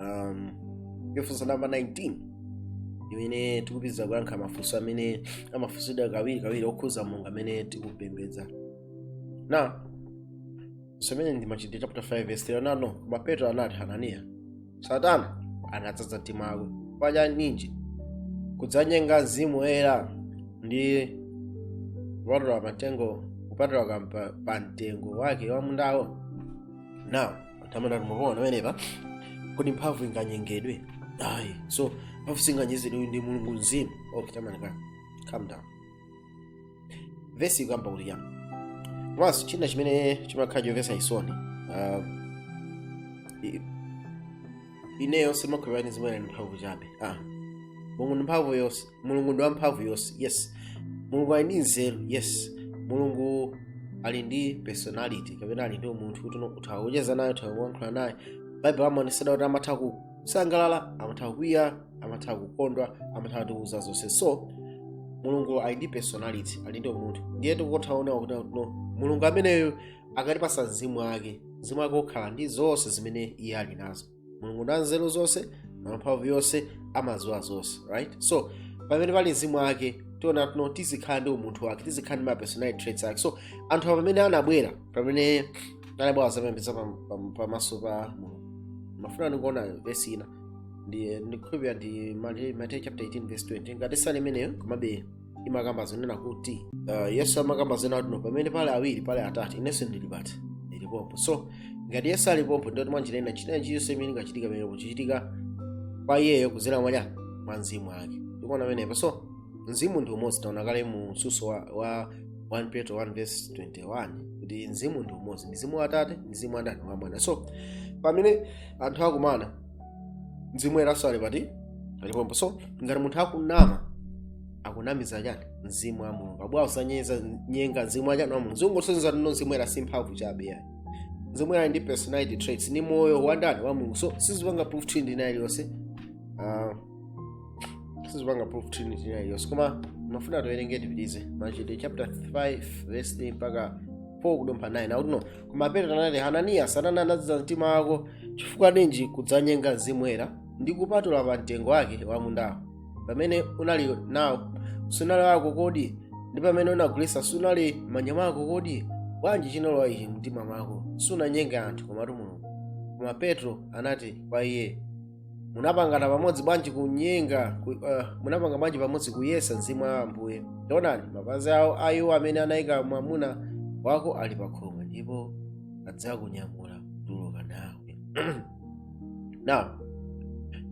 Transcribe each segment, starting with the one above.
um, funso namba 19 imene tikupitiriza kuyankha mafunso amene amafunsidwa kawiri kawiri okhuza mulungu amene tikupembedza now vesi imene ndi machitidwe chapter 5 verse 3 no koma petro anati hananiya satana anadzadza mtima wako chifukwa ninji kudzanyenga mzimu woyera ndi kupatula matengo kupatula kampa- pa mtengo wake wa mundawo now tamaona mukuona pamenepa kodi mphamvu inganyengedwe ayi so mphamvu singanyengedwe ndi mulungu mzimu okay tamaona ka calm down vesi ikukamba kuti chani komanso china chimene chimakhala chomvetsa chisoni um, i- ineyo simakhulupirira kuti zimene ndi mphamvu chabe ah momwe ndi mphamvu yonse mulungu ndi wamphamvu yonse yes mulungu ali ndi nzeru yes mulungu ali ndi personality kapena ali ndi umunthu kuti no- utha kucheza naye utha kuyankhula naye baibulo amaonesera kuti amatha kusangalala amatha kukwiya amatha kukondwa amatha kutiuza zonse so mulungu ali ndi personality ali ndi umunthu ndiye tikutha kuona kuti no mulungu ameneyo akatipasa mzimu wake mzimu wake ukhala ndi zonse zimene iye ali nazo mulungu ndi wanzeru zonse wamphamvu yonse amadziwa zonse right so pamene pali mzimu wake tiona kuti no tizikhala ndi umunthu wake tizikhala ndi ma personality traits ake so anthu awa pamene anabwera pamene anabwera kudzapembedza pam- pam- pamaso pa mulungu ndimafuna ndikuona vesi ina ndi ndikhulupirira ndi Mate- mateyu chapter 18 verse 20 ngati siili imeneyo komabe imakamba zonena kuti uh, yesu amakamba zonena kuti no pamene pali awiri pali atatu inenso ndili pati ndili pompo so ngati yesu ali pompo ndiye kuti mwanjira ina china chiyonse chimene chingachitike pamenepo chikuchitika kwa iyeyo kudzera mwa chani mwa mzimu wake mukuona pamenepo so mzimu ndi umodzi taona kale mu msutso wa, wa 1 petro 1 verse 21 kuti mzimu ndi umodzi mzimu wa atate mzimu wa ndani wa mwana so pamene anthu akumana mzimu woyeranso ali pati ali pompo so ngati munthu akunama akunamiza ndani mzimu wa mulungu abwa usanyeza nyenga mzimu wa chani wa mulungu zikungosonyeza kuti no mzimu woyera si mphamvu chabe ayi mzimu woyera ndi personality traits ndi moyo wa ndani wa mulungu so sizipanga proof trinity ina iliyonse Ah, sizipanga proof trinity ina iliyonse koma ndimafuna tiwerenge tipitirize machitidwe chapter 5 verse 3 mpaka 4 kudumpha 9 akuti no koma petro anati hananiya satana anadzaza mtima wako chifukwa ninji kudzanyenga mzimu woyera ndi kupatula pa mtengo wake wa mundawo pamene unali nawo sunali wako kodi ndi pamene unagulitsa sunali mmanja mwako kodi bwanji chinalowa ichi mumtima mwako sunanyenga anthu komatu mulungu koma petro anati kwa iye munapangana pamodzi bwanji kunyenga ku, uh, munapanga bwanji pamodzi kuyesa mzimu wa ambuye onani mapazi awo a iwo amene anayika mwamuna wako ali pa khomo ndipo adzakunyamula kutuluka nawe now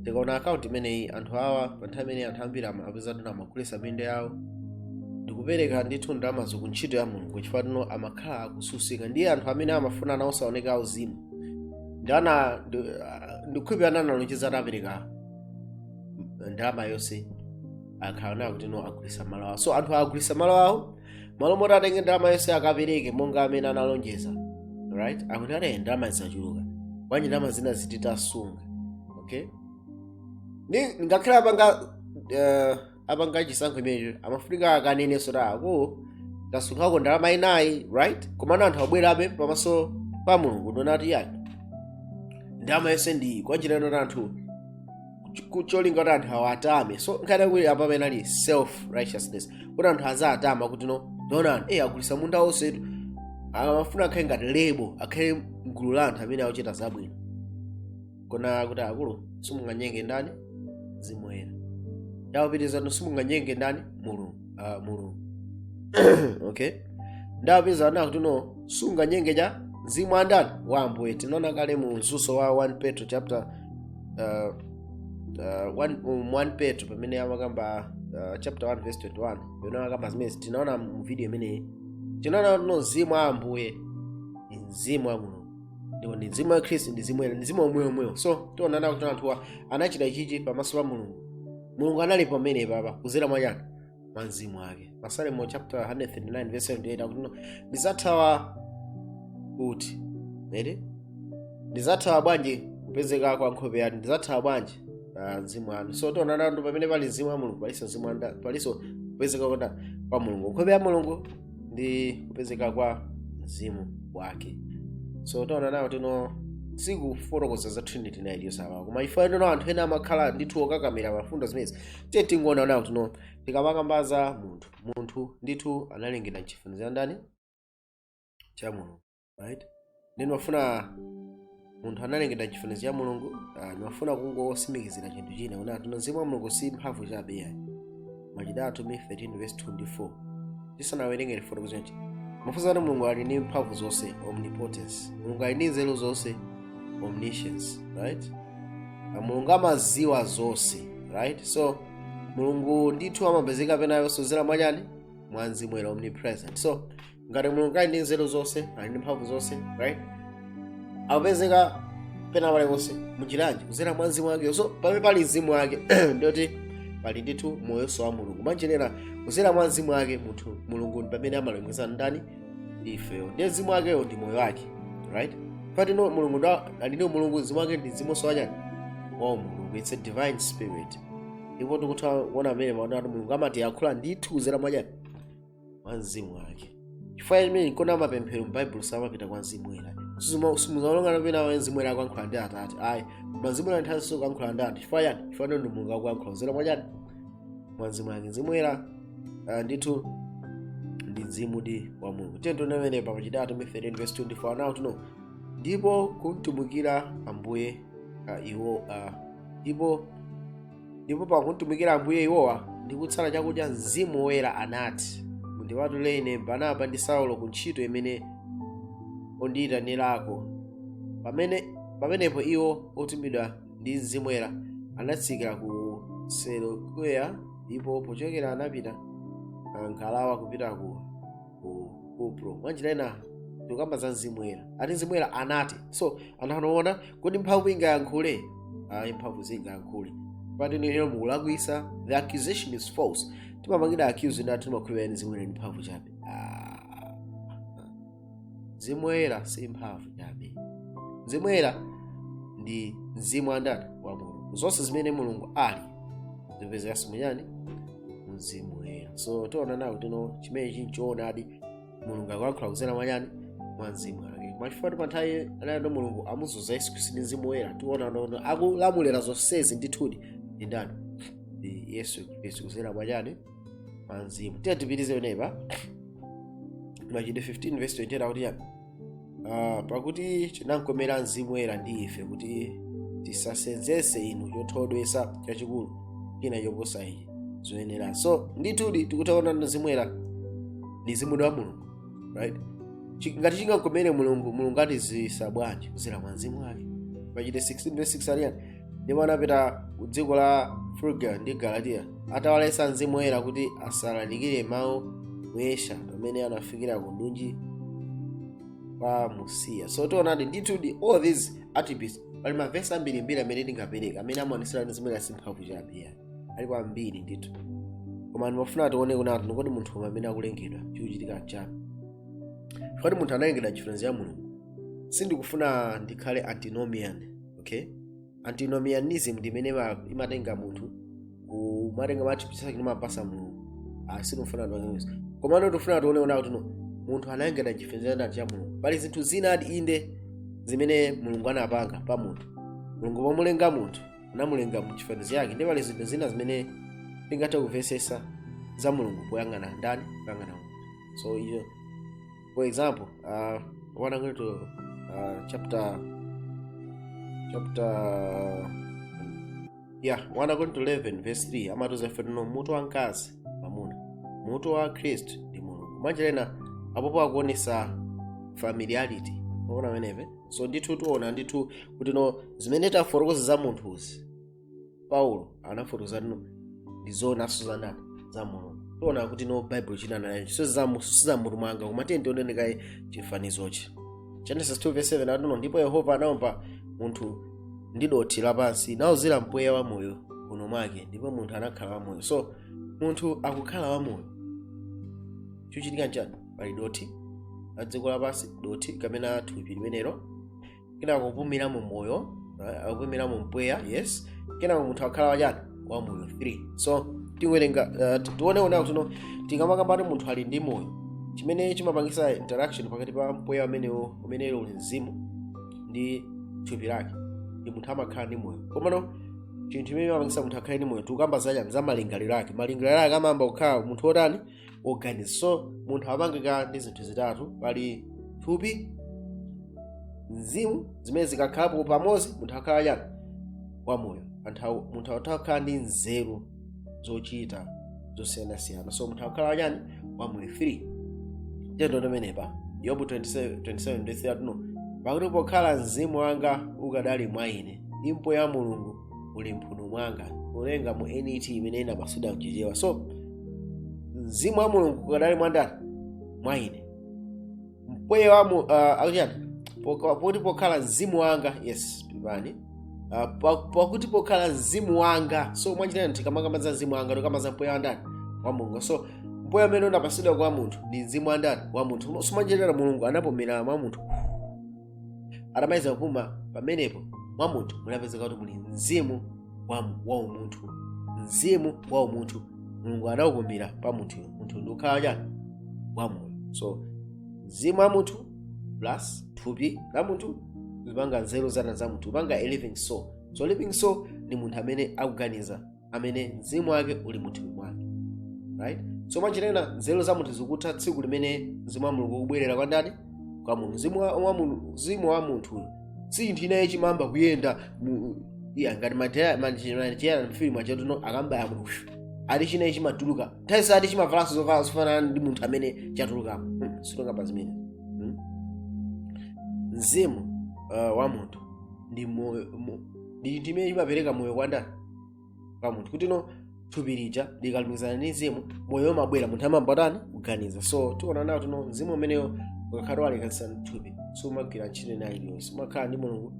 tikaona akaunti imeneyi anthu awa pa nthawi imene anthu ambiri ama- apeza kuti no amagulisa minda yawo ndikupereka ndithu ndalamazo ku ntchito ya mulungu chifukwa kuti no amakhala akususika ndiye anthu amene amafuna nawonso aoneke auzimu ndi ana ndi- ah, ndikhupe analonjeza azapereka ndalama yonse akhala onena kuti no agulisa malo awo so anthu agulisa malo awo m'malo moti atenge ndalama yonse akapereke monga amene analonjeza right akuti anati ndalama zachuluka bwanji ndalama zina ziti tasunga okay Ni- ngakhale apanga eh, apanga chisankho imenecho amafunika akanenenso kuti ako tasungako ndalama inayi right komano anthu abwerabe pamaso pa mulungu ndi kunena kuti yake ndalama yonse ndiyi kwanjira yonena kuti anthu ku- cholinga kuti anthu awatame so nkhani yakuti apa amene ali self righteousness kuti anthu aziwatama kuti no taonani e agulisa munda wonsetu amafuna akhale ndi lebo akhale mgulu la anthu amene akuchita zabwino kuona kuti akulu simunganyenge ndani mzimu woyera ndi kupitiriza no simunganyenge ndani mulungu ah, mulungu okay ndi kupeza kunena kuti no sunganyenge chani mzimu wa ndani wa ambuye tinaona kale mu mzuso wa 1 petro chapter uh, uh, one, um, 1 petro pamene amakamba uh, chapter 1 verse 21 pamene amakamba zimene tinaona mu video imeneyi tinaona kuti no mzimu wa ambuye ni mzimu wa mulungu ndipo ndi mzimu wa khristu ndi mzimu woyera ndi mzimu omwewo omwewo so tiona nawo kuti anthuwa anachita ichichi pamaso pa mulungu mulungu anali pomwepapa kuzera mwa chani mwa mzimu wake masalimo chapter 139 verse 7 8 akuti no ndizathawa kuti eh ndizathawa bwanji kupezeka kwa nkhope yanu ndizathawa bwanji ah, mzimu wanu so tiona nawo pamene pali mzimu wa mulungu palinso mzimu wa ndani palinso kupezeka kwa ndani kwa mulungu nkhope ya mulungu ndi kupezeka kwa mzimu wake so taona nawo kuti no sikufotokoza za trinity nayi yosabapo koma chifukwa kuti no anthu ena amakhala ndithu okakamira mfundo zimenezi tiye tingoona nawo kuti no tikamakamba za munthu munthu ndithu analengedwa mchifaniziro cha ndani cha mulungu right ndimafuna munthu analengedwa mchifaniziro cha mulungu ah, nimafuna kungotsimikizira chinthu china kuti ati mzimu wa mulungu si mphamvu chabe yayi machitidwe atumwi 13 verse 24 tisanawerenge tifotokoze kuti mafunso ati mulungu ali ndi mphamvu zonse omnipotence mulungu ali ndi nzeru zonse omniscience right Na mulungu amaziwa zonse right so mulungu ndithu amapezeka pena paliponse kuzera mwachani mwa mzimu woyera omnipresent so ngati mulungu ali ndi nzeru zonse ali ndi mphamvu zonse right akupezeka pena paliponse munjira yanji kuzera mwa mzimu wake so pamene pali mzimu wake ndiyoti pali ndithu moyonso wa mulungu mwanjira ina kuzera mwa mzimu wake mulungu ndi pamene amalengeza ndani ifeyo ndiye mzimu wakeyo ndi moyo wake right patino mulungu ali ndi mulungu mzimu wake ndi mzimunso wachani wa mulungu it's a divine spirit ndipo tikutha kuona mmene maona ati mulungu amatiyankhula ndithu kuzera mwachani mwa mzimu wake chifukwa chimene nkona mapemphero m'baibulo samapita kwa mzimu woyera simuzaonanso pena mzimu woyera akuyankhula ndi atate ayi koma mzimu woyera nthawi zonse akuyankhula ndi anthu chifukwa chani chifukwa ndi mulungu akuyankhula kuzera mwa chani mwa mzimu wake mzimu woyera ah, ndithu ndi mzimudi wa mulungu tiye tione pa machitidwe atumwi 13 verse 24 nawo tuno ndipo kumtumikira ambuye ah, iwo ah, ndipo ndipo pakumtumikira ambuye iwowa ndi kusala chakudya mzimu woyera anati mundipatulire ine barnaba ndi saulo ku ntchito imene ndawayitanirako pamene pamenepo iwo otumidwa ndi mzimu woyera anatsikira ku seleukeya ndipo pochokera anapita m'ngalawa kupita ku ku kupro mwanjira ina tikukamba za mzimu woyera ati mzimu woyera anati so ndiye tiona kodi mphamvu ingayankhule ayi mphamvu singayankhule pati nilero mukulakwisa the accusation is false timapangidwa accuse ati timakhulupirira mzimu woyera ndi mphamvu chabe Ah. mzimu woyera si mphamvu chabe mzimu woyera ndi mzimu wa ndani wa mulungu zonse zimene mulungu ali zipezekanso muchani mzimu woyera so tiona nawo tino chimene chili choonadi mulungu akuyankhula kuzera mwachani mwa mzimu wake machifukwa pa nthawi anali ndi mulungu anamudzoza yesu khristu ndi mzimu woyera tiona nono akulamulira zonsezi ndithudi ndi ndani ndi yesu khristu kuzera mwachani mwa mzimu tiye tipitirize tione pa machitidwe 15 vesi 28 akuti chani Ah, pakuti chinamkomera mzimu woyera ndi ife kuti tisasenzese inu chothodwetsa chachikulu china choposa izi zoyenera so ndithudi tikutha kuona mzimu woyera ndi mzimu wa mulungu right Chi- ngati chingakomere mulungu mulungu atidziwitsa bwanji kuzera mwa mzimu wake machitidwe 16 verse 6 ati chani ndipo anapita ku dziko la frugia ndi galatiya atawaletsa mzimu woyera kuti asalalikire mawu mu asia pamene anafikira kundunji kwa musiya so tionadi ndithudi all these attributes pali mavesi ambirimbiri amene tingapereka amene amaonetsera kuti mzimu woyera si mphamvu chabe alipo ambiri ndithu koma ndimafuna tione kunati kodi munthu mmene akulengedwa chikuchitika nchani kodi munthu analengedwa mchifaniziro cha mulungu sindikufuna ndikhale antinomian okay antinomianism ndi imene ima- imatenga munthu kumatenga kumuchipitsa chimene amapasa mulungu sitifuna tipange izo komano tifuna tione kuti no munthu analengedwa mchifaniziro cha mulungu pali zinthu zina adi inde zimene mulungu anapanga pa munthu mulungu pomulenga munthu anamulenga mu chifaniziro chake ndipo pali zinthu zina zimene tingathe kumvetsetsa za mulungu poyang'ana ndani poyang'ana munthu so iyo For example, uh, 1 akorinto uh, chapter chapter yeah, 1 akorinto 11 verse 3 amatiuza ife kuti no mutu wa mkazi mwamuna mutu wa khristu ndi mulungu mwanjira ina apopo akuonesa familiarity mwaona ameneyo so ndithu tiona ndithu kuti no zimene tafotokoza za munthuzi paulo anafotokoza no ndi zoonanso za ndani za mulungu tiona kuti no baibulo imanena izo si za mmutu mwanga koma tiye tione kaye chifanizirochi genesis 2 verse 7 akuti no ndipo yehova anaumba munthu ndi dothi lapansi nauzira mpweya wa moyo mphuno mwake ndipo munthu anakhala wamoyo so munthu akukhala wamoyo chochitika nchani pali dothi la dziko lapansi dothi kapena thupi limenelo kenako kupumira mu moyo right? akupumira mu mpweya yes kenako munthu akhala wachani wa moyo 3 so tiwerenga uh, ti- tione kuti no tikamakamba kuti munthu ali ndi moyo chimene chimapangisa interaction pakati pa mpweya umenewo umene uli mzimu ndi thupi lake ndi munthu amakhala ndi moyo komano chinthu chimene chimapangisa munthu akhale ndi moyo tikukamba zachani za malingaliro ake malingaliro ake amayamba kukhala munthu wotani organized so munthu wapangika ndi zinthu zitatu pali thupi mzimu zimene zikakhalapo pamodzi munthu akhala chani wamoyo Anthu- munthu akutha kukhala ndi nzeru zochita zosiyanasiyana so munthu akukhala chani wamoyo 3 tiyeni ndi pomwepa yobu 27 ndithu yakuti no pakuti pokhala mzimu wanga ukadali mwa ine ndi mpweya wa mulungu uli mphuno mwanga kuwerenga mu net imene inamasulira mchichewa so mzimu wa mulungu ukadali mwandani mwa ine mpweya wa mu uh, akuchani Poka- pakuti pokhala mzimu wanga yes pepani Ah, pa- pakuti pokhala mzimu wanga so mwanjira ina tikamakamba za mzimu wanga tikukamba za mpweya wandani wa mulungu so mpweya umene unapasidwa kwa munthu ndi mzimu wandani wa munthu so mwanjira ina mulungu anapumira mwa munthu atamaliza kupuma pamenepo mwa munthu munapezeka kuti muli mzimu wa mu- wa umunthu mzimu wa umunthu mulungu anaupumira pa munthuyo munthu ndi kukhala wachani wa moyo so mzimu wa munthu plus thupi la munthu zipanga nzeru za ndani za munthu zipanga a living soul so living soul ndi munthu amene akuganiza amene mzimu wake uli mu thupi mwake right so mwanjira ina nzeru za munthu zikutha tsiku limene mzimu wa mulungu ukubwerera kwa ndani kwa munthu mzimu wa, wa, mulu- mzimu wa munthu si chinthu chinachake chimayamba kuyenda mu air ngati matiyana mfilimu achatu no akamubaya munthu pshu, ati chinachake chimatuluka nthawi sati chimavalanso zovala zofanana ndi munthu amene chatulukamo Hmm, sitonga pa zimene Hmm? mzimu uh, wa munthu ndi moyo mu- ndi chinthu chimene chimapereka moyo kwa ndani kwa munthu kuti no thupi lija likalumikizana ndi mzimu moyo umabwera munthu amayamba kutani kuganiza so tiona nawo kuti no mzimu umeneyo ukakhala walekanitsana ndi thupi sumagwira ntchito ina iliyonse umakhala ndi mulungu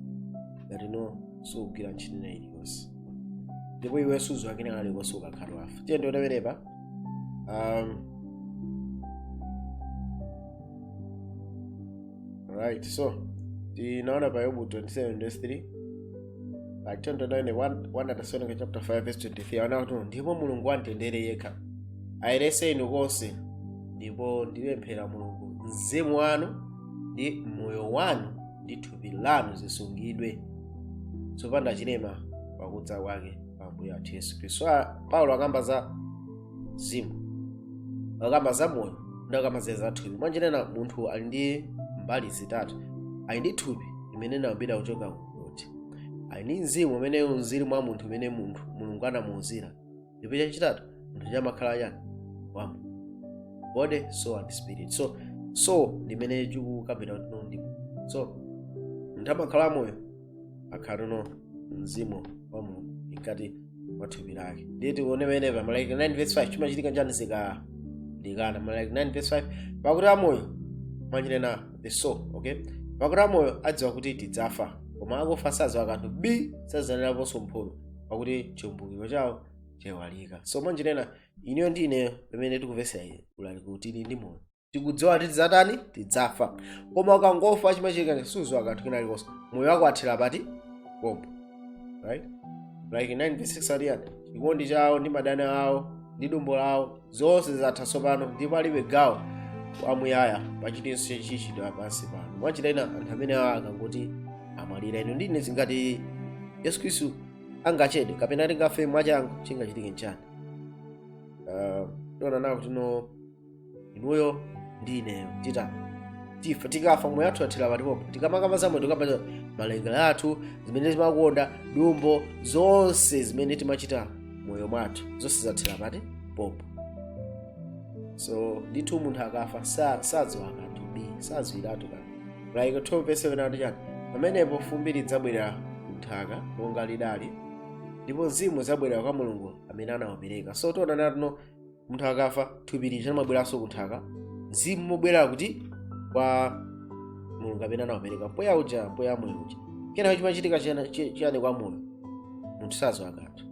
ngati no sugwira ntchito ina iliyonse ndipo iwe sudziwa kina kalikonse ukakhala wafa tiyeni tione pamenepa um, right so tinaona pa yobu 27 verse 3 pa chon 29 1 atesalonika chapter 5 verse 23 anena kuti ndipo mulungu wamtendere yekha ayeretse inu konse ndipo ndipemphera mulungu mzimu wanu ndi moyo wanu ndi thupi lanu zisungidwe zopanda chilema pakudza kwake pa ambuye athu yesu khristu So, ah, paulo akamba za mzimu akamba za moyo ndi akamba za thupi mwanjira ina munthu ali ndi mbali zitatu ali ndi thupi limene linayambira kuchoka kuti ali ndi mzimu umene unauziridwa mwa munthu umene munthu mulungu anamuuzira ndipo chachitatu munthu amakhala chani wamoyo body soul and spirit so soul imene tikukambira kuti ndi so munthu amakhala wamoyo akhala ndi mzimu wa mulungu mkati mwa thupi lake ndiye tione pamenepa mlaliki 9 verse 5 chimachitika nchani zikalekana mlaliki 9 verse 5 pakuti amoyo mwanjira ina the soul okay pakuti amoyo adziwa kuti tidzafa koma akufa sadziwa kanthu bi sadzalandiraponso mphotho pakuti chiumbukiro chawo chaiwalika so mwanjira ina iweyo ndi ineyo pamene tikumvetsera ulaliki kuti tili ndi moyo tikudziwa kuti tidzatani tidzafa koma ukangofa chimachitika nchani sudziwa kanthu kena kalikonse moyo wako wathera pati pompo right mlaliki 9 6 ati chani chikondi chawo ndi madani awo ndi dumbo lawo zonse zatha tsopano ndipo alibe gawo kwamuyaya pa chilichonse chichitidwa pansi pano mwanjira ina anthu amene awa akangoti amwalira inu ndi ine ngati yesu khristu angachede kapena tingafe mwachangu chingachitike nchani uh, tiona nawo kuti no inuyo ndi ineyo titani tifa tikafa moyo wathu wathera pati pompo tikamakamba za moyo tikamba malingaliro athu zimene timakonda dumbo zonse zimene timachita moyo mwathu zonse zathera pati pompo so ndithu munthu akafa sa- sadziwa kanthu sadziwiratu kanthu mlaliki 12 verse 7 akuti chani pamenepo fumbi lidzabwerera kunthaka monga lidali ndipo mzimu udzabwerera kwa mulungu amene anaupereka so tiona nawo tino munthu akafa thupi lija limabweranso ku nthaka mzimu umabwera kuti kwa mulungu amene anaupereka mpweya uja mpweya wa moyo uja kenako chimachitika chiyani- chi- chiyani kwa moyo munthu saziwa kanthu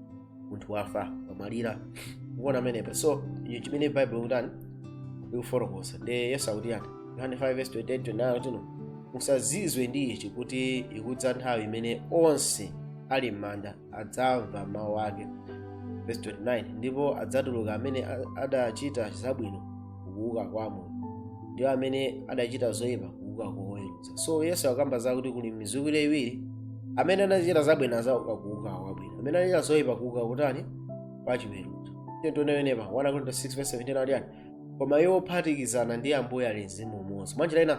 munthu wafa wamwalira ukuona pamenepa so icho chimene baibulo likutani likufotokoza ndi yesu akuti chiyani yohane 5 verse 28 29 akuti no musazizwe ndi ichi kuti ikudza nthawi imene onse ali m'manda adzamva mawu ake verse 29 ndipo adzatuluka amene a- adachita zabwino kuuka kwa moyo ndi iwo amene adachita zoyipa kuuka kwa kuweruza so yesu akukamba zakuti kuli mizikwire iwiri amene anachita zabwino azauka kuuka kwabwino amene anachita zoyipa kuuka kotani kwa chiweruzo tione pamenepa 1 akorinto 6 verse 17 akuti chiyani koma iwo ophatikizana ndi ambuye ali mzimu umodzi mwanjira ina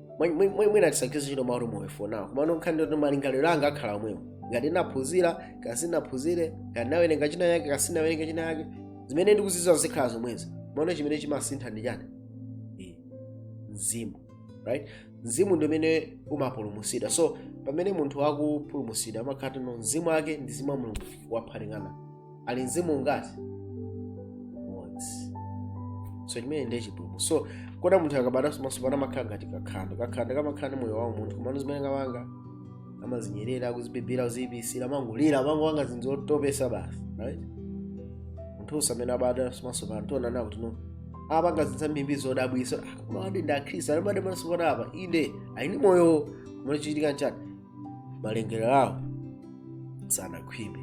Mwe- mwe- mwe- mwina tisagwiritse ntchito mawu oti moyo for now komano nkhani ndoti malingaliro anga akhala omwewo ngati ndinaphunzira kaya sindinaphunzire kaya ndinawerenga china yake kaya sindinawerenga china yake zimene ndikuzidziwa zikhala zomwezo komano chimene chimasintha ndi chani Eh, mzimu right mzimu ndi umene umapulumutsidwa so pamene munthu akupulumutsidwa amakhala tino mzimu wake ndi mzimu wa mulungu waphatikana ali mzimu ungati umodzi so chimene ndiye chipulumutso so kodi munthu akabadwanso mwatsopano amakhala ngati kakhanda kakhanda kamakhala ndi moyo wa munthu komano zimene kamapanga amazinyerera akuzibibira akuziyipisira amangolira amangopanga zinthu zotopesa basi right munthunso amene wabadwanso mwatsopano tiona nawo tino apanga zinthu zambiri zodabwisa koma awadi ndi akhristu anabadwa mwatsopano apa inde ali ndi moyo komano chikuchitika nchani malingaliro awo sanakhwime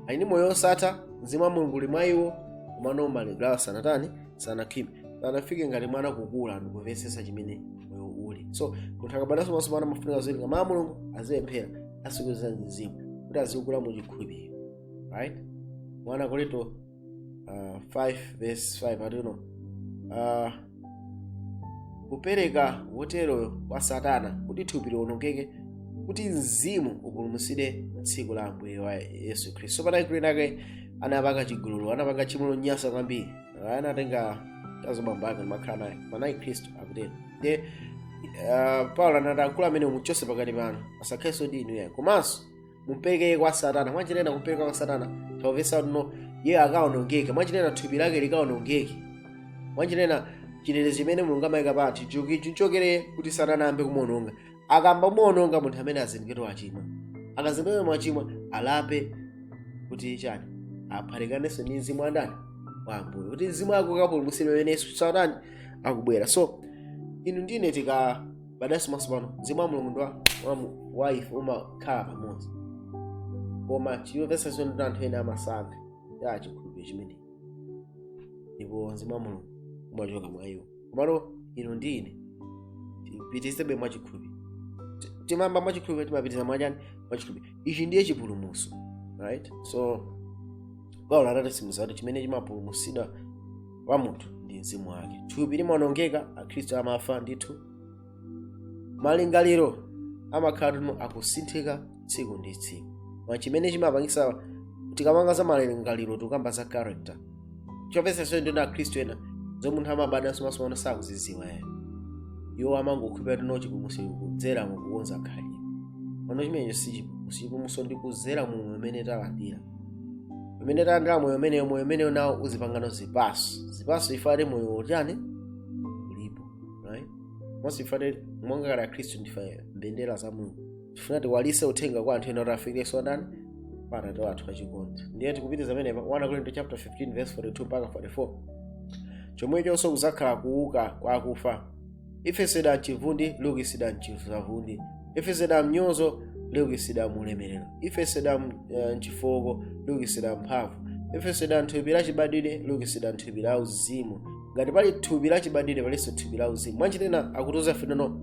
ali ndi moyo wosatha mzimu wa mulungu uli mwa iwo komano malingaliro awo sanatani sanakhwime sanafike ngati mwana kukula ndikumvetsetsa chimene moyo uli so munthu akabadwanso mwatsopano amafunika aziwerenga mawu a mulungu azipemphera azikweza mzimu kuti azikula mu chikhulupiriro right 1 akorinto uh, 5 verse 5 atino uh, kupereka woteroyo kwa satana kuti thupi liwonongeke kuti mzimu upulumutsidwe tsiku la ambuye wa yesu khristu so panali mkulu wina wake anapanga chigololo anapanga tchimo lonyasa kwambiri Ah, anatenga mkazi wa bambo ake nkumakhala naye koma anali mkhristu akutero nde uh, paulo anati mkulu ameneyu mumchotse pakati panu asakhalenso ndi inu yayi komanso mumpereke kwa satana mwanjira ina kumpereka kwa satana taumvesa kuti no iye akaonongeke mwanjira ina thupi lake likaonongeke mwanjira ina chinene chimene mulungu amayika pa anthu chuki chichokere kuti satana ayambe kumuononga akayamba kumuononga munthu amene azindikire wachimwa akazindikire mwachimwa alape kuti chani aphatikanenso ndi mzimu wa ndani wa ambuye kuti mzimu wake ukapulumutsidwe pamene yesu satana akubwera so inu ndi ine tika badwanso mwasopano mzimu wa mulungu ndi wa- wa mu- wa ife umakhala pamodzi koma choopyesa chimene ndi anthu ena amasiya chikhulupiriro chimenechi ndipo mzimu wa mulungu umachoka mwa iwo komano inu ndi ine tipitirizebe mwa chikhulupiriro Ti- timayamba mwa chikhulupiriro timapitiriza mwa chani mwa chikhulupiriro ichi ndiye chipulumutso right so paulo anatisimikiza kuti chimene chimapulumutsidwa pa munthu ndi mzimu wake thupi limaonongeka akhristu amafa ndithu malingaliro amakhala kuti no akusinthika tsiku ndi tsiku koma chimene chimapangisa tikamakamba za malingaliro tikukamba za character choopyesa ndi akhristu ena zomwe munthu amabadwanso mwasopano sakuziziwa ena iwo amangokhulupirira kuti no chipulumutso kudzera mukukonza khalidwe pano chimenecho si chipulumutso chipulumutso ndi kudzera mu moyo umene talandira pamene talandira moyo umenewo moyo umenewo nawo uzipanganso zipaso zipaso if at all moyo utani ulipo right monse ife monga kale akhristu ndife mbendera za mulungu tifuna tiwalise uthenga kwa anthu ena kuti afikirenso ndani pa atate wathu achikondi ndiye tikupitiza pamenepa 1 akorinto chapter 15 verse 42 mpaka 44 chomwechonso kuzakhala kuuka kwa akufa lifesedwa mchivundi liukitsidwa mchisavundi lifesedwa mnyozo liukitsidwa mulemerero lifesedwa m- eh, mchifooko liukitsidwa mumphamvu lifesedwa thupi la chibadwidwe liukitsidwa thupi la uzimu ngati pali thupi la chibadwidwe palinso thupi la uzimu mwanjira ina akutiuza ife kuti no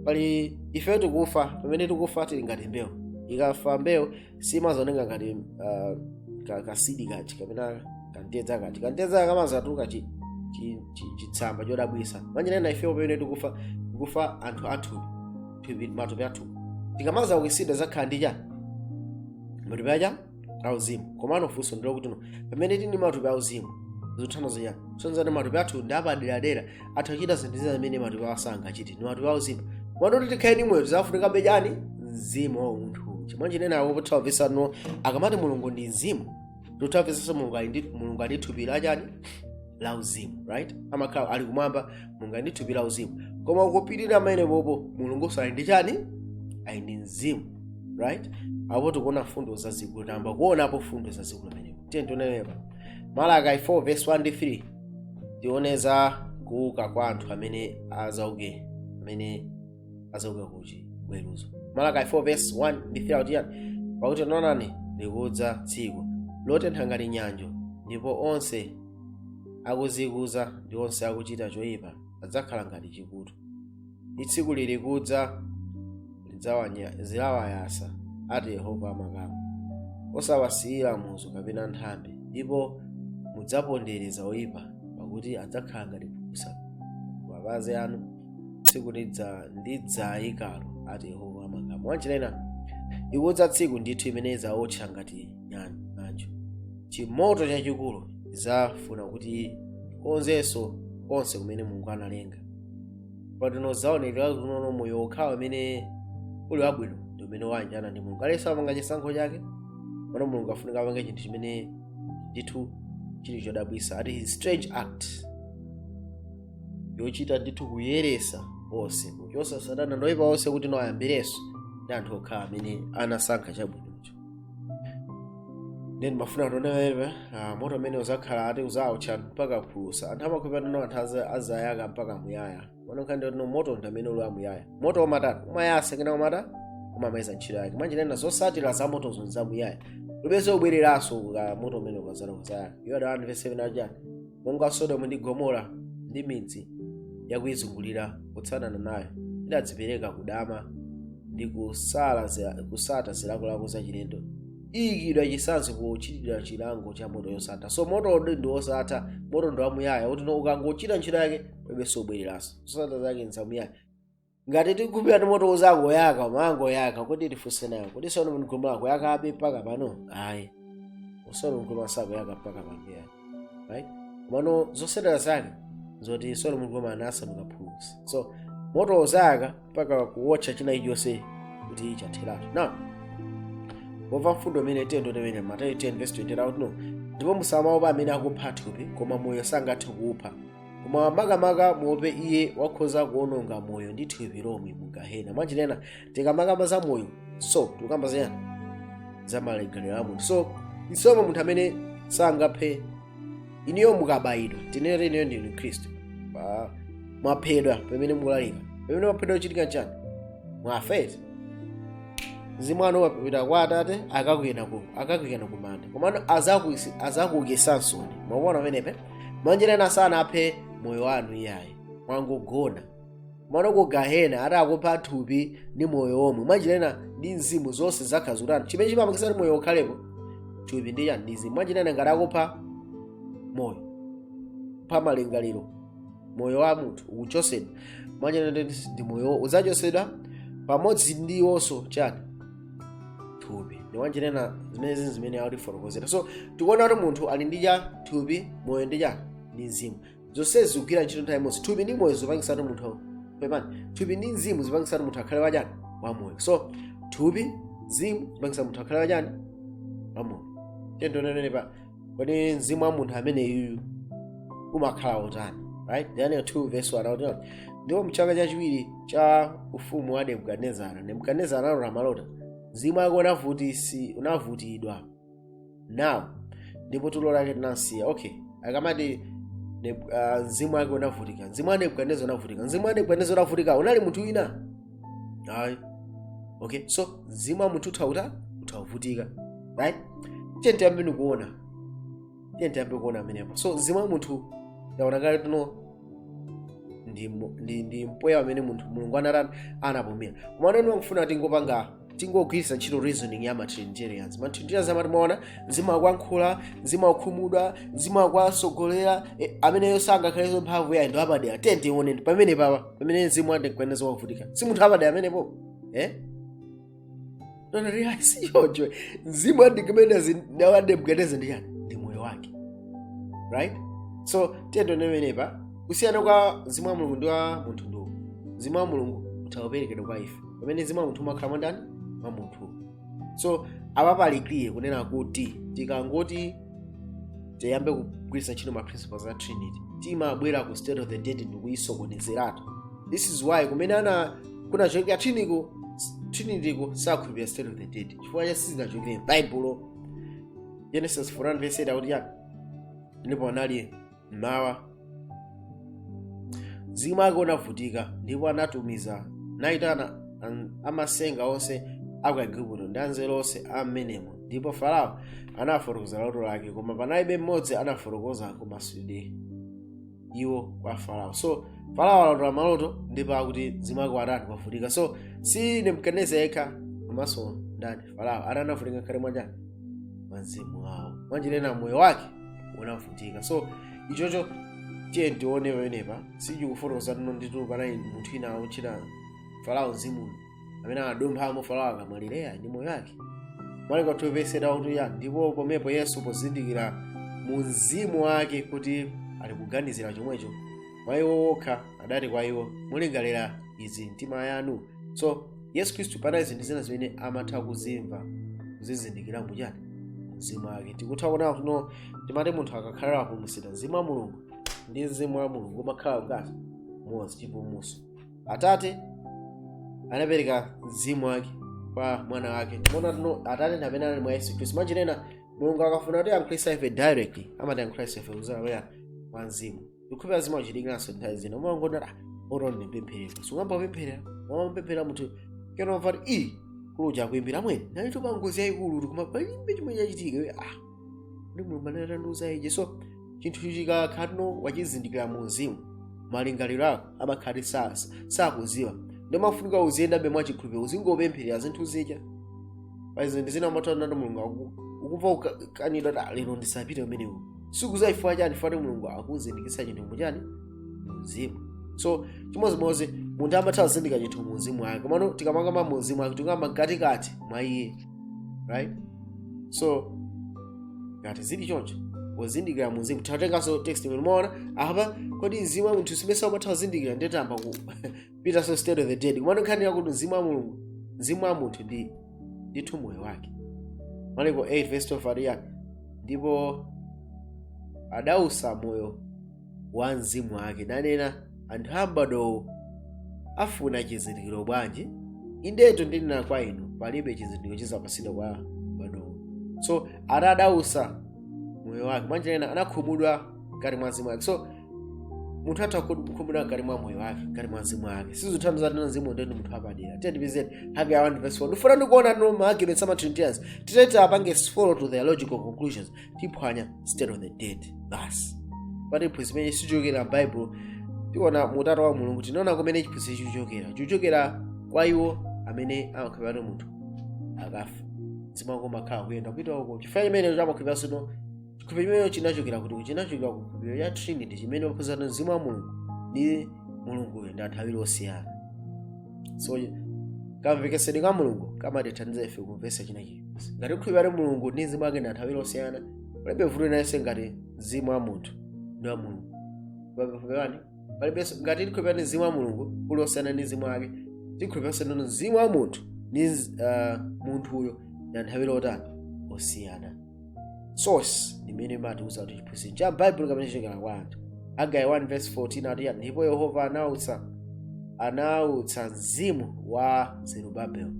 pamene ife tikufa pamene tikufa tili ngati mbewu ikafa mbewu simazooneka ngati uh, ka- kaseed kaja kapena kantedza kaja kantedza kamazatuluka chi- chi- chi- chitsamba chodabwisa mwanjira ina ifewo pamene tikufa tikufa anthu athu thupi matupi athu tikamazaukisidwa tizakhala ndi chani matupi achani auzimu komano funso ndilo kuti no pamene tili ndi matupi auzimu zikutanthauza chani sonzani matupi athu ndi apaderadera atha kuchita zinthu zina zimene matupi awa sangachite ndi matupi auzimu komano kuti tikhale ndi moyo tizafunikabe chani mzimu wa munthu so mwanjira ina apo tithaumvesano akamati mulungu ndi mzimu tithaumvesanso mulungu ali ndi mulungu ali ndi thupi la chani la uzimu right amakhala ali kumwamba mulungu ali ndi thupi la uzimu koma kupitirira pamenepo mulungu ali ndi chani ali ndi mzimu right apo tikuona mfundo zazikulu tayamba kuonapo mfundo zazikulu pamenepo tiye tionenepa malaki 4 verse 1 ndi 3 tione za kuuka kwa anthu amene azauke amene azauka kuchiweruzo malaki 4 verse 1 ndi 3 akutiyani pakuti taonani likudza tsiku lotentha ngati ng'anjo ndipo onse akuzikuza ndi onse akuchita choyipa adzakhala ngati chiputu ndi tsiku lili kudza lidzawanya- zilawayasa ati yehova amakamu osawasiyira muzu kapena nthambi ndipo mudzapondereza oyipa pakuti adzakhala ngati phulusa kumapazi anu tsiku lidza ndidzayikalo ati yehova amakamu mwanjira ina likudza tsiku ndithu imene idzawotcha ngati chani ng'anjo chimoto chachikulu idzafuna kuti akonzenso konse kumene mulungu analenga patino zaonekera kuti no moyo wokhawo umene uli wabwino ndi umene wayanjana ndi mulungu aliyense amapanga chisankho chake pano mulungu afunika apange chinthu chimene ndithu chili chodabwisa ati his strange act yochita ndithu kuyeresa onse kuchosa satana ndi oyipa onse kuti no ayambirenso ndi anthu okhawo amene anasankha chabwinocho ndiye ndimafuna atonewerwe moto umene uzakhala ati uzawotcha mpaka phulusa anthu amakhulupirira kuti anthu aza- azayaka mpaka muyaya mano nkhani ndoti no moto ndi amene uli amuyaya moto umatatu umayasa kenako umatha umamaliza ntchito yake mwanjira ina zosatira za moto ndi zamuyaya palibenso kubwereranso ka moto umene ukazala kuzayaka yuda 1 verse 7 chani monga sodomu ndi gomora ndi midzi yakuizungulira kutsatana nayo idadzipereka kudama ndi kusala zila- kusata zilakolako zachilendo iyikidwa chisanzo pochitidwa chilango cha moto yosatha so moto odi ndi wosatha moto ndi wamuyaya kuti no ukangochita ntchito yake palibenso kubwereranso zosatira zake nzamuyaya ngati tikukhulupirira kuti moto uzangoyaka umangoyaka kodi tifunse nayo kodi sodomu ndi gomora akuyakabe mpaka pano ayi sodomu ndi gomora sakuyaka mpaka pano ayi right mano zosatira zake nzoti sodomu ndi gomora anasanduka phulusa so moto uzayaka mpaka kuwotcha china ichonse kuti chitheretu now pomva mfundo imeneyi tiyeni ndotemene mateyu 10 verse 28 akuti no ndipo musamaopa amene akupha thupi koma moyo sangathe kuupha koma makamaka muope iye wakhoza kuononga moyo ndi thupi lomwe mu gahena mwanjira ina tikamakamba za moyo so tikukamba ziyani za malegalero a munthu so isoma munthu amene sangafe inuyo mukabayidwa tinene inuyo ndinu mkhristu Pa- mwaphedwa pamene mukulalika pamene mwaphedwa kuchitika chani mwafa eti mzimu wanu wapita kwa atate akakuikani ku akakuikani kumanda komano azakuisi- azakuukisanso mukuona pamenepe mwanjira ena sanaphe moyo wanu iyayi mwangogona mano ku gahena ati akupha thupi ndi moyo womwe mwanjira ena ndi mzimu zonse zakhazi kuti anthu chimene chimapangisa kuti moyo ukhalepo thupi ndi chani ndi mzimu mwanjira ena ngati akupha moyo kupha malingaliro moyo wa munthu ukuchosedwa mwanjira ena ndi moyo uzachosedwa pamodzi ndi iwonso chani thupi ndi mwanjira ena zimenezi zimene akutifotokozera so tikuona kuti munthu ali ndi cha thupi moyo ndi chani ndi mzimu zonsezi zikugwira ntchito nthawi imodzi thupi ndi moyo zipangitsa kuti munthu pepani thupi ndi mzimu zipangitsa kuti munthu akhale wachani wamoyo so thupi mzimu zipangitsa munthu akhale wachani wamoyo tiyeni tione pa kodi mzimu wa munthu ameneyuyu umakhala wotani right daniel 2 verse 1 akuti ndipo mchaka chachiwiri cha ufumu wa nebukadinezara nebukadinezara analota maloto mzimu wake unavutisi unavutidwa nawo ndipo tulo lake tinamsiya okay akamati Nebu- ah, mzimu wake unavutika mzimu wa nebukadinezara unavutika mzimu wa nebukadinezara unavutika unali munthu wina ayi okay so mzimu wa munthu utha utha utha kuvutika right tiyeni tiyambeni kuona tiyeni tiyambe kuona pamenepo so mzimu wa munthu taona kale tuno ndi, mu- ndi, ndi mpweya amene munthu mulungu anatani anapumira komano ndikufuna tingopanga tingogwiritsa ntchito reasoning ya matrinitarians matrinitarians amati mwaona mzimu akuyankhula mzimu akukhumudwa mzimu akuwasogolera eh, ameneyo sangakhalenso mphamvu yayi ndi wapadera tiye tione pamenepa pa pamene mzimu wa nebukadinezara wavutika si munthu wapadera amenepo eh? nonarea siyocho mzimu wa nebukadinezara ndi chani ndi moyo wake right so tiye tione pamenepa kusiyana kwa mzimu wa mulungu ndi wa munthu ndiwo mzimu wa mulungu utha kuperekedwa kwa ife pamene mzimu wa munthu umakhala mwa ndani mwa munthu so apa pali clear kunena kuti tikangoti tiyambe kugwiritsa ntchito ma principles a trinity timabwera ku state of the dead ndikuyisokonezeratu this is why kumene ana kunachokera triniko trinitiko sakhulupirira state of the dead chifukwa cha sizinachokere m'baibulo genesis 41 verse 8 akuti chani ndipo panali mmawa mzimu wake unavutika ndipo anatumiza nayitana an- amasenga onse aku aigupto ndi anzeru onse a mmenemo ndipo farao anafotokoza loto lake koma panalibe mmodzi anafotokoza kumasulidwe iwo kwa farao so farao analota maloto ndipo akuti mzimu wake watani wavutika so si nebukadineza yekha komanso ndani farao atani avutika mkati mwa chani mwa mzimu wawo mwanjira ena moyo wake unavutika so ichocho tiye tione pamenepa sichikufotokoza tino ndithu panali munthu ina otchedwa farao mzimu amene anadumphamo farao akamwalira ndi moyo wake maliko 2 verse 8 akuti ya ndipo pomwepo yesu pozindikira mu mzimu wake kuti ali kuganizira chomwecho mwa iwo okha adati kwa iwo mulingalira izi m'mitima yanu so yesu khristu panali zinthu zina zimene amatha kuzimva kuzizindikira muchani mzimu wake tikutha kuona kuno timati munthu akakhala wapulumutsidwa mzimu wa mulungu ndi mzimu wa mulungu umakhala ngati umodzi chipulumutso atate anapereka mzimu wake kwa mwana wake timaona tino atate ndi amene ali mwa yesu khristu mwanjira ina mulungu akafuna kutiyankhulitsa ife directly amatiyankhulitsa ife kudzera kwa mzimu ndikukhulupira zimachitikiranso nthawi zina umangonera oro ndipempherera so ungoyamba kupempherera umamupempherera munthu kena umva kuti mkulu uja akuimbira amwene ndinalitu pangozi yayikulu kuti koma palibe chimene chachitika iwe ah ndi mulungu amene anandiuza ije so chinthu chikakhala tino wachizindikira mu mzimu malingaliro ako amakhala sasa sakudziwa nde umafunika uziyendabe mwachikhulupiriro uzingopempherera zinthu zija pali zinthu zina umatana ndi mulungu aku- ukumva ukanidwa kuti "Ah, lero ndisapite umenewu sukudziwa chifukwa chani fati mulungu akuzindikiritsa chinthu muchani mumzimu so chimodzimodzi munthu amatha kuzindikira chinthu mumzimu wake komano tikamakamba mumzimu wake tikukamba mkatikati mwa iye right so ngati zili choncho kuzindikira mumzimu titatenganso text imene umaona apa kodi mzimu wa munthu simesa umatha kuzindikira nde tayamba kupitanso state of the dead komano nkhani yakuti mzimu wa mulungu mzimu wa munthu ndi ndithu moyo wake mariko 8 verse 12 ati chani ndipo adausa moyo wa mzimu wake nanena anthu a mbadwowu afuna chizindikiro bwanji indetu ndinena kwa inu palibe chizindikiro chidzapatsidwa kwa mbadwowu so ana adausa moyo wake mwanjira ina anakhumudwa mkati mwa mzimu wake so munthu atha kukhumudwa mkati mwa moyo wake mkati mwa mzimu wake sizitanthauza kunena mzimu nde ndi munthu wapadera tiye tipezeni hagai 1 verse 14 ndifuna ndikuona no ma arguments ama trinitarians titati tiwapange follow to their logical conclusions tiphwanya state of the dead basi pati phunzi imene sichokera m'bible tiona mu utatu wa mulungu tinaona kumene chiphunzitso chichokera chichokera kwa iwo amene amakhulupirira munthu akafa mzimu wake umakhala kuyenda kupita uko chifukwa chimene amakhulupiriranso chikhulupiriro chimenecho chinachokera kuti chinachokera ku chikhulupiriro cha trinity chimene aphunzitsa kuti mzimu wa mulungu ndi mulunguyo ndi anthu awiri osiyana so kamvetsetsedwe ka mulungu kamatithandiza ife kumvetsa chinachi ngati kukhulupirira kuti mulungu ndi mzimu wake ndi anthu awiri osiyana palibe vuto lina lililonse ngati mzimu wa munthu ndi wa mulungu pamene palibenso ngati tikhulupirira kuti mzimu wa mulungu uli osiyana ndi mzimu wake tikhulupiriranso kuti mzimu wa munthu ndi uh, munthuyo ndi anthu awiri otani osiyana source imene imatiuza kuti chiphunzitso cha baibulo kapena chichokera kwa anthu hagai 1 verse 14 ati ndipo yehova anautsa anautsa mzimu wa zerubabel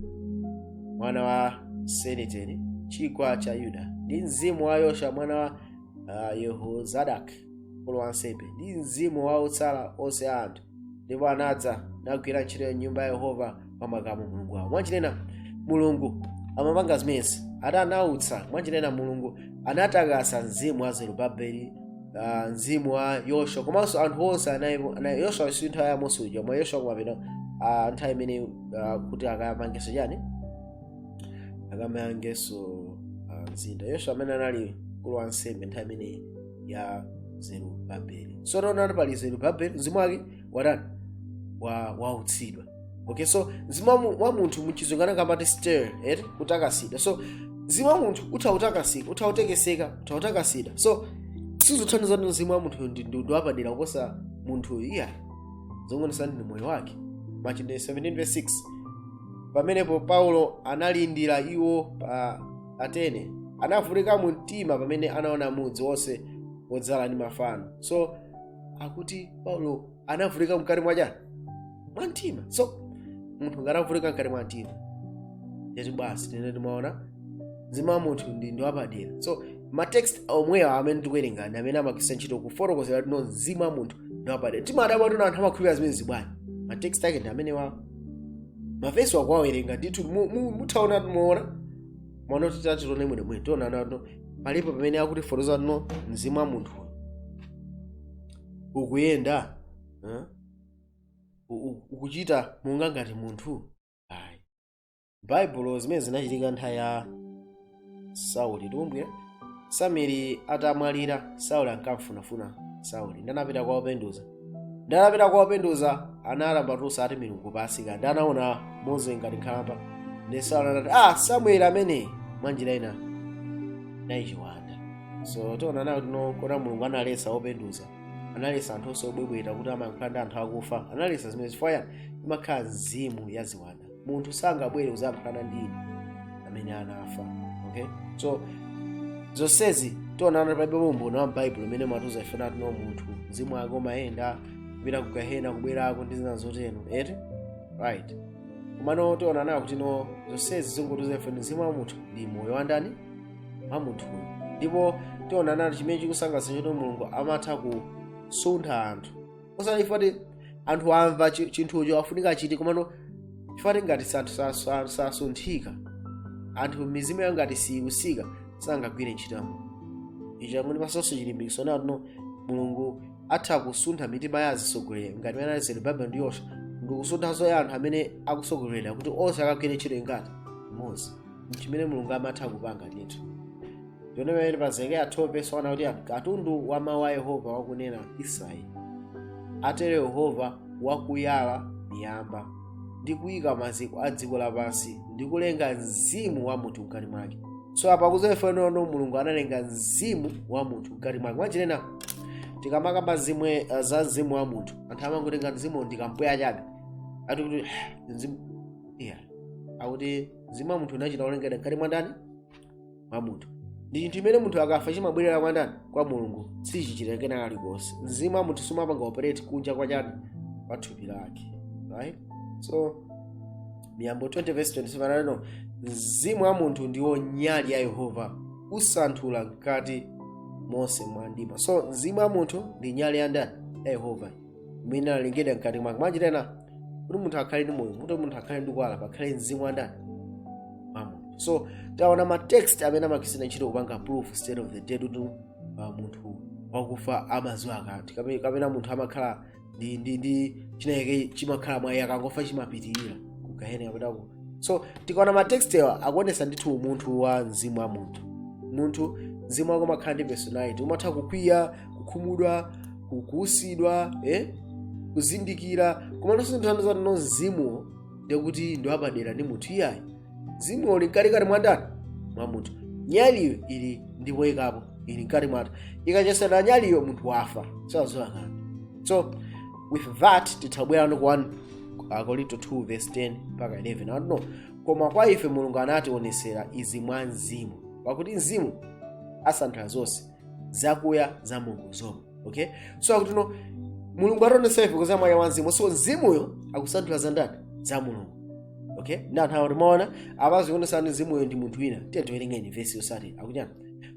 mwana wa seniteni ciwanga cha yuda ndi mzimu wa yoswa mwana wa uh, yehozadak mkulu wa ansembe ndi mzimu wa otsala onse a anthu ndipo anadza nagwira ntchito ya nyumba ya yehova wa makamu mulungu wawo mwanjira ina mulungu amapanga zimenezi ati anautsa mwanjira ina mulungu anatakasa mzimu wa zerubabeli uh, mzimu wa yoswa komanso anthu onse anayi- ana- yoswa si nthawi ya mose uja koma yoswa kumapita uh, nthawi imene uh, kuti akamangeso chani akamangeso uh, mzinda yoswa amene anali mkulu wa ansembe nthawi imeneyi ya zerubabeli so taonani pali zerubabeli mzimu wake watani wa wautsidwa okay so mzimu wa mu- wa munthu muchizungu angakambe kuti stir eti kutakasidwa so mzimu wa munthu utautakasika utautekeseka utautakasidwa so sizothandiza kuti mzimu wa munthu ndi ndi- ndi wapadera kuposa munthu iya zongoonetsa ndi moyo wake machitidwe 17 verse 6 pamenepo paulo analindira iwo pa atene anavutika mu mtima pamene anaona mudzi wonse wodzala ndi mafano so akuti paulo anavutika mkati mwa chani mwa mtima so munthu ngati avutika mkati mwa mtima ndiye kuti basi ndiye timaona mzimu wa munthu ndi ndi wapadera so matext omwewa amene tikuwerenga ndi amene amagwiritsa ntchito kufotokozera kuti no mzimu wa munthu ndi wapadera timadabwa kuti no anthu amakhulupirira zimenezi bwanji matext ake ndi amenewa mavesi akuwawerenga ndithu mu- mu- muthaona muona mwina kuti tatione mwene mwene tionano ngati palipo pamene akutifotokozera kuti no mzimu wa munthu ukuyenda eh? U- u- ukuchita monga ngati munthu ayi baibulo zimene zinachitika nthawi ya sauli tumbwe samueli atamwalira sauli ankamfunafuna sauli ndiye anapita kwa openduza ndiye anapita kwa openduza anayalamba tusa ati milungu pasika ndinaona mmodzi ngati nkhalamba ndi sauli anati ah samueli ameneyo mwanjira ina ichi chiwanda so tionanso kuti no koma mulungu analesa openduza analesa anthu onse obwebweta kuti amalankhula ndi anthu akufa analesa zimenezi chifukwa imakhala mzimu ya ziwanda munthu sangabwere kuzayankhulana ndi ine amene anafa okay so zonsezi tionano palibe umboni wa m'baibulo umene umatiuza ife kuti no munthu mzimu wake umayenda kupita ku gahena kubwerako ndi zina zotero eti right komano tionanso kuti no zonsezi zingotiuza ife mzimu wa munthu ndi moyo wa ndani wa munthuyo ndipo tionano chimene chikusangalatsa choti mulungu amatha kusuntha anthu osati chifukwa choti anthu amva chi- chinthucho afunika achite komano chifukwa choti ngati sa- sa- sa- sasunthika anthu mizimu yawo ngati siyikutsika sangagwire ntchito ya mulungu icho chakuti patsanso chilimbikitso nacho kuti mulungu atha kusuntha mitima ya azitsogoleri ngati mene anali zerubabelo ndi yoswa ndi kusunthanso ya anthu amene akutsogolera kuti onse akagwire ntchito ngati mmodzi nchimene mulungu amatha kupanga ndithu ndione pamene pa zekariya 12 vesi 1 kuti katundu wa mawu a yehova wakunena israeli atero yehova wakuyala miyamba ndi kuyika maziko a dziko lapansi ndi kulenga mzimu wa munthu mkati mwake so apa kuzeferenono mulungu analenga mzimu wa munthu mkati mwake mwachitanena tikamakamba zimene uh, za mzimu wa munthu anthu amangotenga mzimu ndikampweya chabe ati kuti mzimu iya akuti mzimu wa munthu unachita kulengedwa mkati mwa ndani mwa munthu ndi chinthu chimene munthu akafa chimabwerera kwa ndani kwa mulungu sichichita kena kake kalikonse mzimu wa munthu sumapanga operate kunja kwa chani kwa thupi lake right so miyambo 20 verse 27 akuti mzimu wa munthu ndiwo nyali ya yehova usanthula mkati monse mwa mimba so mzimu wa munthu ndi nyali ya ndani ya yehova imene inalengedwa mkati mwake mwachitanena kuti munthu akhale ndi moyo kuti munthu akhale ndi kuwala pakhale mzimu wa ndani wa munthu so taona ma text amene amagwiritsa ntchito kupanga proof state of the dead kuti uh, munthu wakufa amadziwa kanthu Kape- kapena munthu amakhala ndi ndi ndi chinayake chimakhala mwa iye akangofa chimapitirira kugahena kapena ku so tikaona ma text awa akuonesa ndithu umunthu wa mzimu wa munthu munthu mzimu wako umakhala ndi personality umatha kukwiya kukhumudwa kuutsidwa eh? kuzindikira komano sitanthauza kuti mzimuwo ndekuti ndiwapadera ndi munthu iyayi mzimuwo uli mkati kati mwandani mwa munthu nyaliyo ili ndipo ikapo ili mkati mwake ikachotsedwa nyaliyo munthu wafa sadziwa kanthu so with that titabwerano ku 1 akorinto 2 verse 10 mpaka 11 I don't know koma kwa ife mulungu anationetsera izi mwa mzimu pakuti mzimu asanthula zonse zakuya za mulungu zomwe okay so akuti no mulungu anationetsera ife kudzera mwa wa mzimu so mzimuyo akusanthula za ndani za mulungu okay nthawi zina timaona apa zikuonetsa kuti mzimuyo ndi munthu wina tiye tiwerengeni vesi yotsatira akunena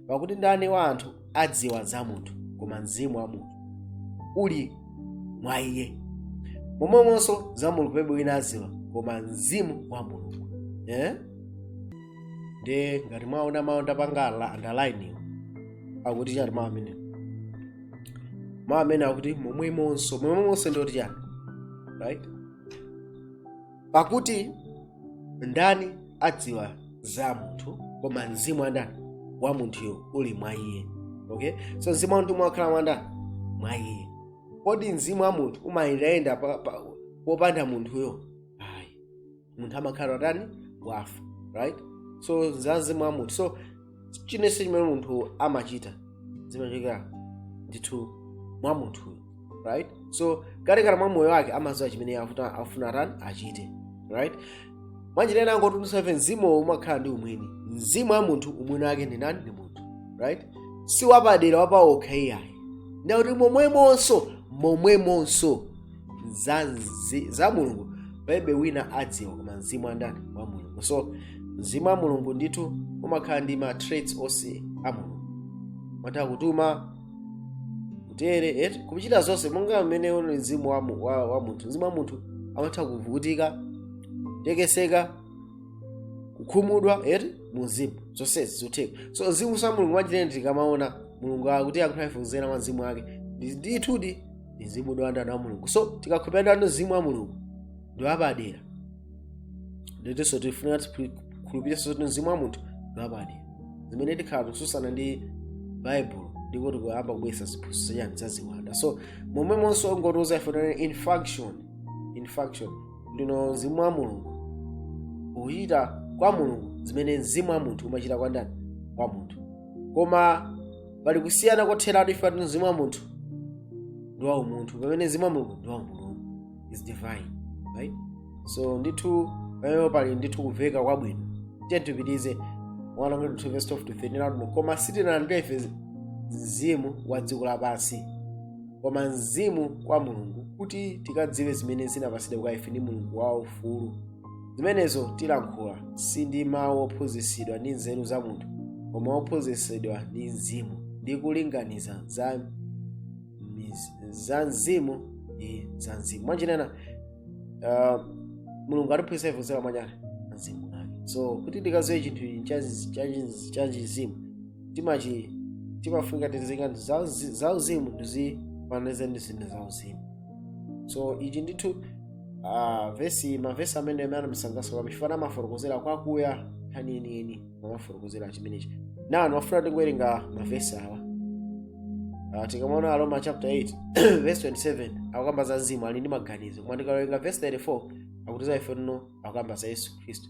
pakuti ndani wa anthu adziwa za munthu koma mzimu wa munthu uli mwa iye momwemonso za mulungu palibe wina adziwa koma mzimu wa mulungu eh? ndiye ngati mwaona mawu ndapangala underline akuti chani mmawu amene mawu amene akuti momwemonso momwemonso ndi oti chani right pakuti ndani adziwa za munthu koma mzimu wa ndani wa munthuyo uli mwa iye okay so mzimu wa munthu umakhala mwa ndani mwa iye kodi mzimu wa munthu umayenda pa- pa- popanda munthuyo munthu amakhala atani wafa right so za mzimu wa munthu so chinense chimene munthu amachita zimachokera ndithu mwa munthuyo right so katikati mwa moyo wake amaziwa chimene afuna atani achite right mwanjira ina angotiuza ife mzimu umakhala ndi umwini mzimu wa munthu umwini wake ndi ndani ndi munthu right si wapadera wapawokha iyayi ndiye akuti momwemonso momwemonso za, nzi- za mulungu palibe wina adziwa koma mzimu wa ndani wa mulungu so mzimu wa mulungu ndithu umakhala ndi ma traits onse a mulungu umatha kutuma kutere eti kuchita zonse monga mmene uli mzimu wa, mu- wa, wa munthu mzimu wa munthu amatha kuvutika tekeseka kukhumudwa eti muzimu zonsezi zotheka so mzimu wa mulungu mwachitende tikamaona mulungu akuti akutiuza ife kuzera mwa mzimu wake Ndi- ndithudi ndi mzimu ndi wandani wa mulungu so tikakhulupirira ndithu mzimu wa mulungu ndi wapadera ndithunso tifunika tikhulupirenso kuti mzimu wa munthu ndi wapadera zimene tikhala tikususana ndi bible ndiko tikuyamba kubwesa ziphunzitso chani zaziwanda so momwemonso angotiuza ife tuno in function in function ndithu mzimu wa mulungu ukuchita kwa mulungu zimene mzimu wa munthu umachita kwa ndani kwa munthu koma pali kusiyana kotheratu ife ati mzimu wa munthu ndi wa umunthu pamene mzimu wa mulungu ndi wa umulungu is divine right so ndithu pamene pali ndithu kuveka kwabwino tiye tipitize verse 12 to 13 lakuno koma sitinalandira ife mzimu wa dziko lapansi koma mzimu wa kwa mulungu kuti tikadziwe zimene zinapatsidwa kwa ife ndi mulungu kwaufulu zimenenso tilankhula si ndi mawu ophunzitsidwa ndi nzeru za munthu koma ophunzitsidwa ndi mzimu ndi kulinganiza za, miz- za mzimu ndi za mzimu mwanjira ina uh, mulungu atiphunzitsa ife kudzera mwa ndani mzimu wake so kuti tikaziwe chinthu ichi cha- cha- cha mzimu timachi timafunika tizilinga ndi za uzi- za uzimu tizifananize ndi zinthu za uzimu so ichi ndithu Ah, vesi mavesi amene amandisangalatsa kwambiri chifukwa amafotokozera kwakuya nkhani yeniyeni amafotokozera chimenechi now ndimafuna tingowerenga mavesi awa Ah, tikamaona aroma chapter 8 verse 27 akukamba za mzimu ali ndi maganizo koma tikawerenga verse 34 akutiuza ife tino akukamba za yesu khristu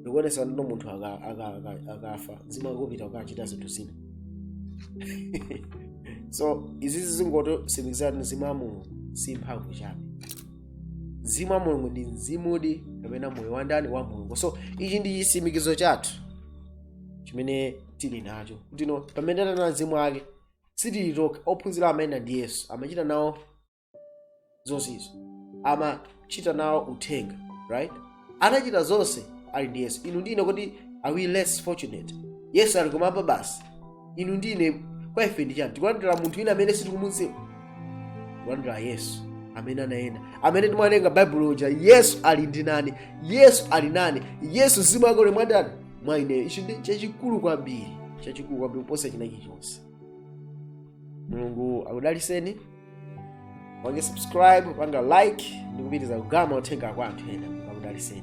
ndikuonesani kuti no munthu aka- aka- aka- akafa mzimu akupita kukachita zinthu zina so izizi zingotsimikizirani mzimu wa mulungu si mphamvu chabe mzimu wa mulungu ndi mzimudi kapena moyo wa ndani wa mulungu so ichi ndi chitsimikizo chathu chimene tili nacho kutino pamene ali ndi mzimu wake sitili tokha ophunzira amene ndi yesu amachita nawo zozizwa amachita nawo uthenga right anachita zonse ali ndi yesu inu ndi ine kuti are we less fortunate yesu ali kumwamba basi inu ndi ine kwa ife ndi chiyani tikulandira munthu wina amene sitikumudziwa tikulandira yesu amene anayenda amene timawerenga baibulo uja yesu ali ndi ndani yesu ali nane yesu mzimu wake uli mwa ndani mwa ineyo ichi ndi chachikulu kwambiri chachikulu kwambiri kuposa china chilichonse mulungu akudaliseni pangani subscribe pangani like ndikupitiriza kugawa uthenga kwa anthu ena mulungu akudaliseni